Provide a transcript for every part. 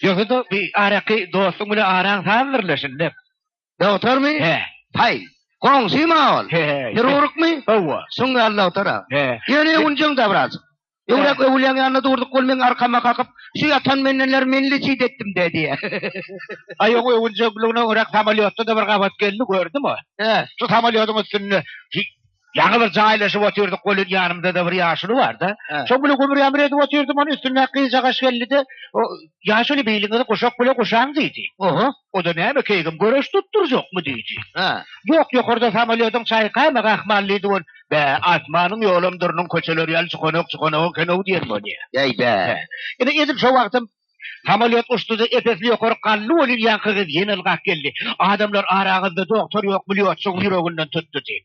Ýöne-de bi araky dostuň bilen araň sazdirlesin dep. Dogtormy? He. Haý, goňşym-a ol. He-he. Hirurgmy? Hawa. Şoň ýaly dogtor-a. He. Ýöne ýunjyň-da biraz. Öwrak öwülýäň ýanynda durduk ol meň arkama kakyp, Şu ýatan mendenler menli çyt etdim-dä diýýär. Aý oň öwünjekligine görä samolýotda-da bir gabat geldi, gördüňmi? Hä. Şu samolýodyň üstünde ýaňy bir jaýlaşyp otyrdyk welin ýanymda-da bir ýaşuly bar-da. Şoň bilen gümür-ýamyr edip otyrdym, onuň üstündäki gyzjagaş geldi-de, Ýaşuly, beýligiňizi guşak bile guşaň diýdi. Oho. O-da näme, keýgim göreş tutdurjakmy? diýdi. Hä? Ýok, ýokarda samolýodyň çaýkamagy ahmal diýdi bol. Bä, asmanyň ýolam durnuň köçeleri ýaly çykanak-çykanak eken-ow diýen bolýa. Bäý, bä. Ine, edil şo wagtam samolýot uçdy-da, epesli ýokary galdy welin, ýaňky gyz ýene ylgap geldi. Adamlar araňyzda dogtor ýokmy, lýotçygyň ýüreginden tutdy diýip.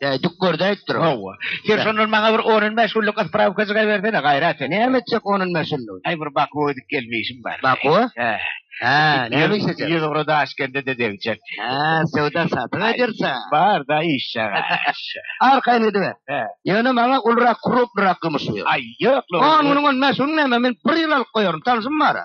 Ýa dükgörde aýtdyr. Hawa. Sen şondan maňa bir on on bäş günlük isprawkajyk aýbersene, gaýrat et. Näme etjek on on bäş günlügi? Aý bir Bakuwa gidip gelme işim bar. Bakuwa? Hä. Hä, näme iş etjek? Ýüz ugra Daşkende de degjek. Hä, söwda satyk ederse. Bar da iş çaga. Arkaýyn gidiber. Hä. Ýöne maňa ulurak, krupnurak gümüş ber. Aý, ýok. On günüň on bäş günüň näme, men bir ýyl alyp goýaryn, tanşym bar-a.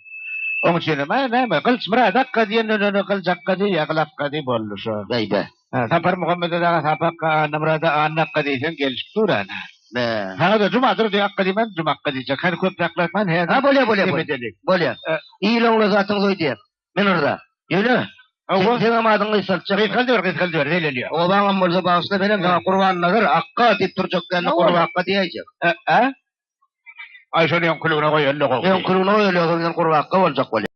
Oň üçin hem näme, Gylyç Myrat akga diýenden öň Gylyç akga diý, ýa Gyl akga diý, boldy şo. Beýde. Sapar Muhammede dagy Sapy akga, Annamyrada Anna akga diýseň gelşip dur ana. Saňa-da Juma Durdy akga diýmän, Juma akga diýjek. Hany köp saklatman, häzir hem bolýar, bolýar, bolýar. Bolýar. Il oňly zatyň toý diýer. Men yrza. Ýöne, Hawa. Seň hem adyňy gysgaltjak. Gysgaldyber, gysgaldyber, zeýlelýär. Obaň hem bolsa bagyşla, men hem saňa Gurbannazar akga diýip durjak däl-de, Gurba akga diýäýjek. Ä-ä? Aý şony öňküligine goýalyda gowy. Öňküligine goýalyda ozal bilen gurbakka boljak bolýar.